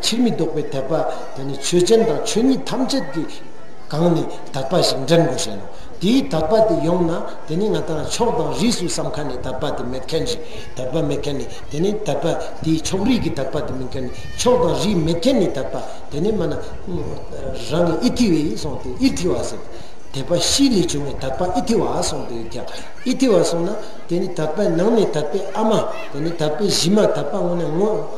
ཕྱིར་མི་ལྡོག་པའི་དད་པ་དེ་ནི་ཆོས་ཅན་དང་ཆོས་ཉིད་ཐམས་ཅད་ཀྱི་སྒང་ནས་དད་པ་ཞིག་འདྲེན་དགོས་བྱས་ནོ། དེའི་དད་པ་དེ་ཡོང་ན་དེ་ནི་ང་དང་ཕྱོགས་དང་རིས་སུ་བསམ་ཁ་ནས་དད་པ་དེ་མེད་མཁན་ཞིག་དད་པ་མེད་མཁན་ནི་དེ་ནི་དད་པ་དེའི་ཕྱོགས་རིས་ཀྱི་དད་པ་དེ་མིན་མཁན་ནི་ཕྱོགས་དང་རིས་མེད་མཁན་ནི་དད་པ་དེ་ནི་སྨྲ་ན། རང་གི་ཨི་ཐི་བའི་ཨི་སོང་སྟེ་ཨི་ཐི་བ་ཟེར། དད་པ་གཤིས་ལས་བྱུང་བའི་དད་པ་ཨི་ཐི་བ་ཨ་སོང་དེ་ཡོད་ཀྱང་ཨི་ཐི་བ་སོང་ན་དེ་ནི་དད་པའི་ནང་ནས་དད་པའི་ཨ་མ་དེ་ནི་དད་པའི་གཞི་མ་དད་པ་དངོས་ནས་ངོ།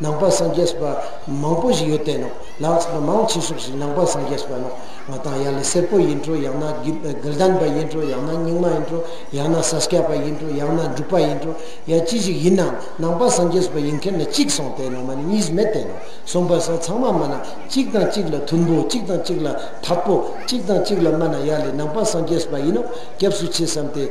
ནང་པ་སངས་རྒྱས་པ་མང་པོ་ཞིག་ཡོད་དེ་ནོ། ལགས་སོ། མང་ཆེ་ཤོས་ཞིག་ནང་པ་སངས་རྒྱས་པ་ནོ། ང་དང་ཡ་ལི་སེར་པོ་ཡིན་འགྲོ་ཡང་ན་དགེ་ལྡན་པ་ཡིན་འགྲོ་ཡང་ན་རྙིང་མ་ཡིན་འགྲོ་ཡང་ན་ས་སྐྱ་པ་ཡིན་འགྲོ་ཡང་ན་འབྲུག་པ་ཡིན་འགྲོ་ཡང་ཅི་ཞིག་ཡིན་ནའང་ནང་པ་སངས་རྒྱས་པ་ཡིན་མཁན་ནི་གཅིག་སོང་དེ་ནང་མ་ནི་གཉིས་མེད་དེ་ནོ། གསུམ་པ་སོགས་ཚང་མ་སྨྲ་ན་གཅིག་དང་གཅིག་ལ་མཐུན་པོ་གཅིག་དང་གཅིག་ལ་འཐབ་པོ་གཅིག་དང་གཅིག་ལ་སྨྲ་ན་ཡ་ལི་ནང་པ་སངས་རྒྱས་པ་ཡིན་ནོ་སྐྱབས་སུ་མཆི་བསམ་སྟེ།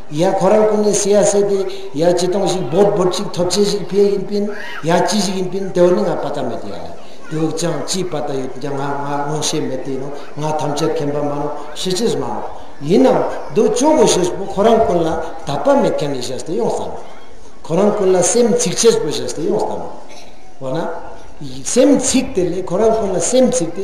ཡ་ཁོ་རང་སྐུ་ངལ་སེ་ཡ་སེ་སྟེ་ཡ་ཅི་གཏོང་ཞིག་འབོད་འབོད་ཅིག་ཐོབ་ཆེན་ཞིག་ཕེ་ཡིན་པིན་ཡ་ཅི་ཞིག་ཡིན་པིན་དེ་བ་ནི་ང་པ་ཏ་མེད་ཡ་ལ་དེ་བ་ཅང་ཅིའི་པ་ཏ་ཡོད་ཀྱང་ང་ང་མངོན་ཤེས་མེད་དེ་ནོ་ང་ཐམས་ཅད་མཁན་པ་མ་ནོ་ཤི་ཆེས་མ་ནོ་ཡིན་ནམ་འདུག་ཅོག་གོ་ཤེས་པོ་ཁོ་རང་ཀུན་ལ་ད་པ་མེད་མཁན་ཡི་ཤེས་ཏེ་ཡོང་ས་ནོ་ཁོ་རང་ཀུན་ལ་སེམས་ཚིག་ཆེས་པོ་ཤེས་ཏེ་ཡོང་ས་ནོ་བ་ན་སེམས་ཚིག་དེ་ལས་ཁོ་རང་ཀུན་ལ་སེམས་ཚིག་དེ།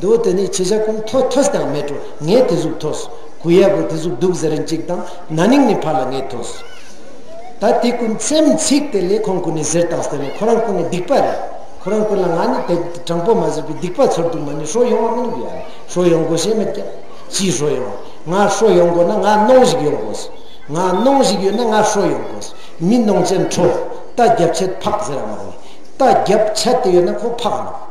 དུ་དེ་ནས་ཁྱེད་ཅག་ཀུན་ཐོ་ཐོས་དང་མེ་དྲོ་ངས་དེ་གཟུགས་ཐོས། གུ་ཡ་གུ་དེ་གཟུགས་སྡུག་ཟེར་རིན་ཅིག་དང་ན་ནིང་ནས་ཕར་ལ་ངས་ཐོས། ད་དེ་ཀུན་མཚེམ་ཚིག་དེ་ལས་ཁོང་ཀུན་ནས་ཟེར་དང་ཟེར་ནས་ཁོ་རང་ཀུན་ནས་སྡིག་པ་རེད། ཁོ་རང་ཀུན་ལ་ང་ནི་དེ་དྲང་པོ་མ་ཟེར་བའི་སྡིག་པ་ཚོར་འདུག་མ་ནི་ཧྲོ་ཡོང་བ་མིན་གུ་ཡ་ལ་ཧྲོ་ཡོང་དགོས་ཞེས་མི་སྐྱབས། ཅིའི་ཧྲོ་ཡོང། ང་ཧྲོ་ཡོང་དགོས་ན་ང་གནོང་ཞིག་ཡོང་དགོས། ང་གནོང་ཞིག་ཡོད་ན་ང་ཧྲོ་ཡོང་དགོས། མི་གནོང་ཅན་ཁྲོ། རྟ་རྒྱབ་ཆད་ཕག་ཟེར་བ་མ་གནས། རྟ་རྒྱབ་ཆད་དེ་ཡོད་ན་ཁོ་ཕག་འདུག།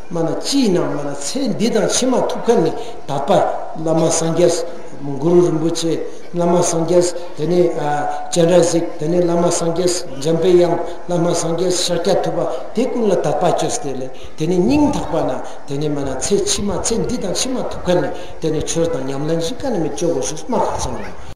སྨྲ་ན་ཅི་ཡིན་ནམ་སྨྲ་ན་ཚེ་འདི་དང་ཕྱི་མ་ཐུབ་ཁ་ནི་ད་པ་བླ་མ་སངས་རྒྱས། གུ་རུ་རིན་པོ་ཆེ་བླ་མ་སངས་རྒྱས་དེ་ནས་སྤྱན་རས་གཟིགས་དེ་ནས་བླ་མ་སངས་རྒྱས་འཇམ་དཔལ་དབྱངས་བླ་མ་སངས་རྒྱས་ཤཱཀྱ་ཐུབ་པ་དེ་ཀུན་ལ་དག་པ་བཅོས་སྟེ་ལས་དེ་ནས་སྙིང་ཐག་པ་ན་དེ་ནས་སྨྲ་ན་ཚེ་ཕྱི་མ་ཚེ་འདི་དང་ཕྱི་མ་ཐུབ་ཁ་ནི་དེ་ནས་ཆོས་དང་ཉམས་ལེན་བཞི་ཀ་ནི་མི་སྐྱོ་བའོ་ཞེས་སྨྲ་ཁ་ཚང་ནས།